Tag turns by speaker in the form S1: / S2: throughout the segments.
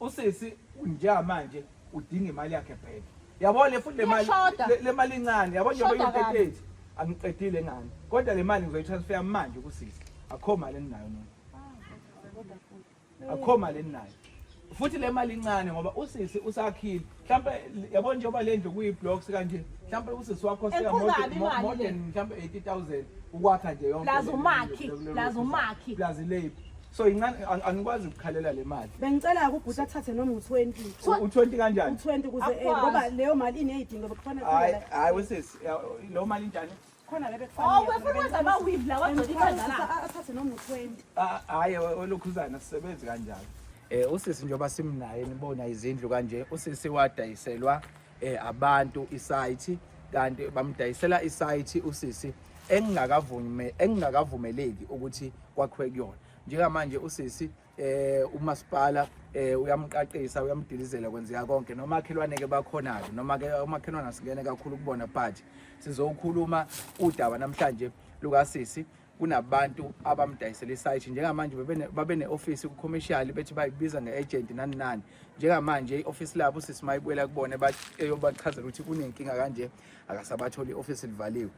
S1: Usisi unja manje udinga imali yakhe back. Yabo le futhi le mali Iyashoda. le- le mali incane yabo njengoba Shoda kabi. iyiteteti angiqedile ngani. Kodwa le mali ngizoyitransfer manje kusisi. Akho mali eninayo nina. Akho mali eninayo. Futhi le mali incane ngoba usisi usakhile mhlawumbe yabo njengoba le ndlu kuyi-blocks kanje mhlawumbe usisi wakho more than mhlawumbe 80 000 ukwakha nje yonkelazumaki
S2: leyiphi
S1: so incane angikwazi ukukhalela le mali bengicela kubhuti athathe
S3: noma u-20 u-20
S1: kanjani u-20 kuze eh, ngoba
S3: leyo mali ineyidingo bekufanele hayi wesisi
S1: lo mali njani khona la
S3: bekufanele. Oh, wefuna wenza ama weave la
S2: wagcina
S3: ikhanda la. Athathe noma 20. Ah, hayi
S1: olokhuzana sisebenzi kanjalo. Eh usisi njoba simnaye nibona izindlu kanje usisi wadayiselwa eh abantu isite kanti bamdayisela isite usisi engingakavume engingakavumeleki ukuthi kwakhiwe kuyona njengamanje usisi eh umasipala eh uyamqaqisa uyamdilizela kwenzeka konke noma akhelwane ke bakhona ke noma ke umakhelwane asingene kakhulu kubona but sizokhuluma udaba namhlanje lukasisi kunabantu abamdayisela isaythi njengamanje babe ne-ofisi kucommercial bethi bayibiza nge-agent nani nani njengamanje i-ofisi labo sisi mayibuyela kubona eyobachazela ukuthi kunenkinga kanje akasabatholi i-ofisi livaliwe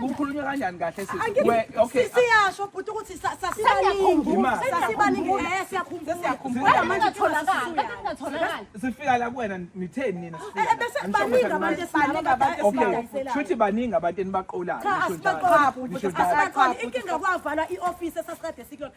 S1: kukhulunywa kanjani kahle siyasho
S3: bhuti ukuthi sasibaningisifika
S1: la kuwena nitheni nina shuthi baningi abantu enibaqolayo inkinga
S3: kwavala i-ofisi esasiqede sikuyona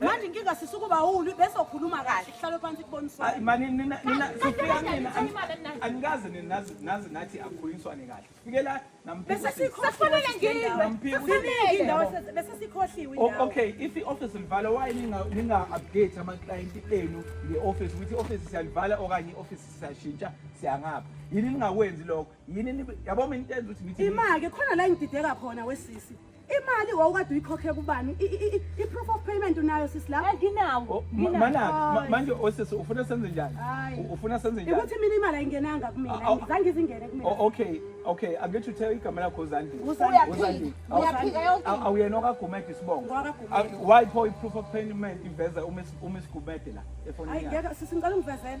S4: manje inkinga sisi
S3: ukuba ulwi bese ukhuluma kahle kuhlale phansi kuboniswane mani nina nina
S1: sifika mina angikaze ninazi nazi nathi akukhulunyiswane kahle fikela namphiwa
S3: safanele ngini namphiwa indawo bese sikhohliwe indawo okay if i office
S1: livala why ninga ninga update ama client enu nge office ukuthi office siyalivala okanye office siyashintsha siyangapha yini ningakwenzi lokho yini yabo mina intenza ukuthi ngithi imake khona la ngidideka
S3: khona wesisi imali wawukade uyikhokhe kubani i-proof of payment unayo sisi la nginawo
S2: mana manje
S1: osisi ufuna senze njani ufuna senze njani ukuthi
S3: mina imali ayingenanga kumina ngizange izingene kumina oh, okay okay angithi
S1: uthe igama lakho uzandi uzandi
S2: awuyena okagumede
S1: isibongo why pho i-proof of payment iveza uma isigumede la efonini ayingeke sisi ngicela ungivezela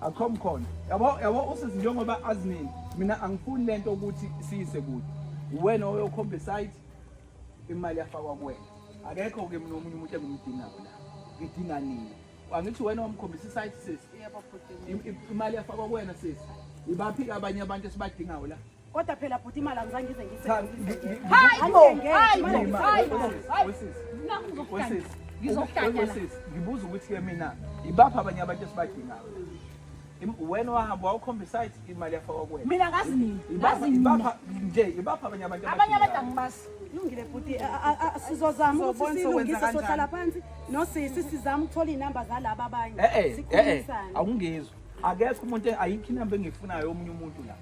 S1: akho mkhondo yabo yabo usisi njengoba azinini mina angifuni lento ukuthi siyise kude uwena oyokhomba site imali yafakwa kuwena akekho ke mina omunye umuntu engumdinga kona ngidinga nini angithi wena wamkhombisa isite sisi imali yafakwa kuwena sisi ibaphi abanye abantu esibadingayo la Kodwa phela bhuti imali
S3: angizange ngize ngiyisebenzise. Hayi bo, hayi bo, hayi bo. Wesisi,
S1: ngizokuhlanya. Wesisi, ngibuza ukuthi ke mina ibaphi abanye abantu esibadingayo. Wena wahamba wawukhombisa ithi imali yafakwa kuwena. Mina ngazi nini? Ngazi
S2: nini? Ibapha nje,
S1: ibaphi abanye abantu abadingayo. Abanye abantu angibazi.
S2: Lungile bhuti,
S3: sizozama ukuthi silungise sohlala phansi nosisi sizama ukuthola izinamba zalabo abanye. Eh eh, eh, eh. Sikhulisane. Awungizwa.
S1: Akekho umuntu ayikho inamba engifunayo omunye umuntu la.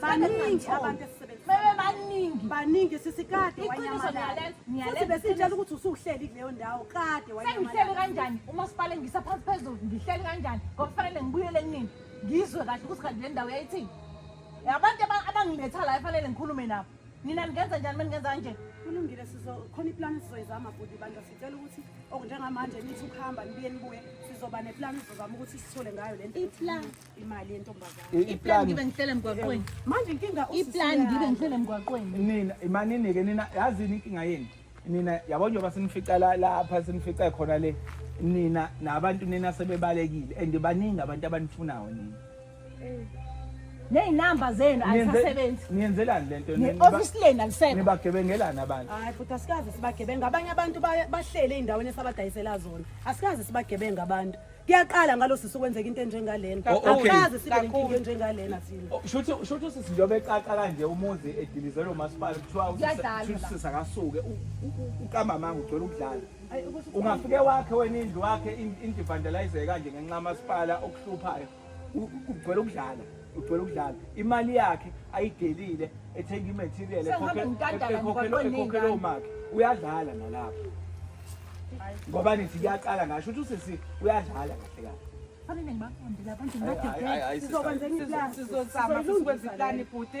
S2: baningi
S3: abantu esisebenzibaningi
S2: baningi sisi kade
S3: wanyamalala futhi besitshela
S2: ukuthi
S3: usuhleli kuleyo ndawo kade wanyamalala kanjani
S2: umasipala ngisa phansi phezulu ngihleli kanjani ngokufanele ngibuyele kunini ngizwe kahle ukuthi kanti le ndawo yayithini abantu abangiletha la efanele ngikhulume nabo nina ningenza njani uma ningenza kanje kulungile sizokhona
S3: iplani sizoyizama bhuti bandla sicela ukuthi okunjengamanje nithi ukuhamba nibuye nibuye sizoba neplani sizozama ukuthi sithole ngayo le nto imali yentombazane iplan ngibe
S2: ngihlele
S3: emgwaqweni
S2: manje inkinga iplan ngibe
S1: ngihlele emgwaqweni nina imanini ke nina yazini inkinga yenu nina yabo njengoba sinifica lapha sinifica khona le nina nabantu nina sebebalekile and baningi abantu abanifunayo nina neynamba
S2: zenu azisasebenzi niyenzelani lento
S1: ne-ofisi leni alisekho
S2: nibagebengelani abantu
S1: hayi futhi asikaze
S3: sibagebenga abanye abantu bahlele ey'ndaweni esabadayisela zona asikaze sibagebenga abantu kuyaqala ngalo sisi kwenzeka into enjengalena Oh, okay. akaze sibe nenkinga Kakhulu. enjengalena thina Oh, Shuthi shuthi usisi njengoba
S1: eqaqa kanje umuzi edilizelwe umasipala kuthiwa usisi- Kuyadlalwa shuthi la. usisi
S2: akasuke u-
S1: u- u- uqamba amanga ugcwele ukudlala. Ayi, ukuthi- Ungafike wakhe wena indlu wakhe in- indivandalize kanje ngenxa kamasipala okuhluphayo. U- u- Ugcwele ukudlala. ugcwele ukudlala imali yakhe ayidelile ethenga imaterial ekhokhela omakhe uyadlala nalapho ngoba nithi kuyaqala ngasho ukuthi usisi uyadlala kahle kahle Fanele
S2: ngibaqondile abantu ngibadedele. Sizokwenza iplani.
S3: Sizozama sizokwenza
S4: iplani bhuti.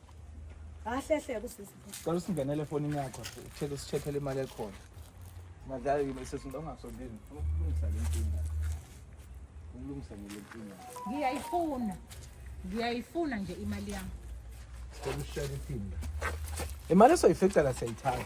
S1: Kahle
S3: hle kusisi. Cela usingenele efonini
S1: yakho, uthele usicheckele imali ekhona. Madlala yini sisi ntongasondini. Ukulungisa le nkinga. Ukulungisa le nkinga. Ngiyayifuna. Ngiyayifuna nje
S2: imali
S1: yami.
S2: Sicela
S1: ushare iphinda. Imali esoyifica
S2: la
S1: siyayithatha.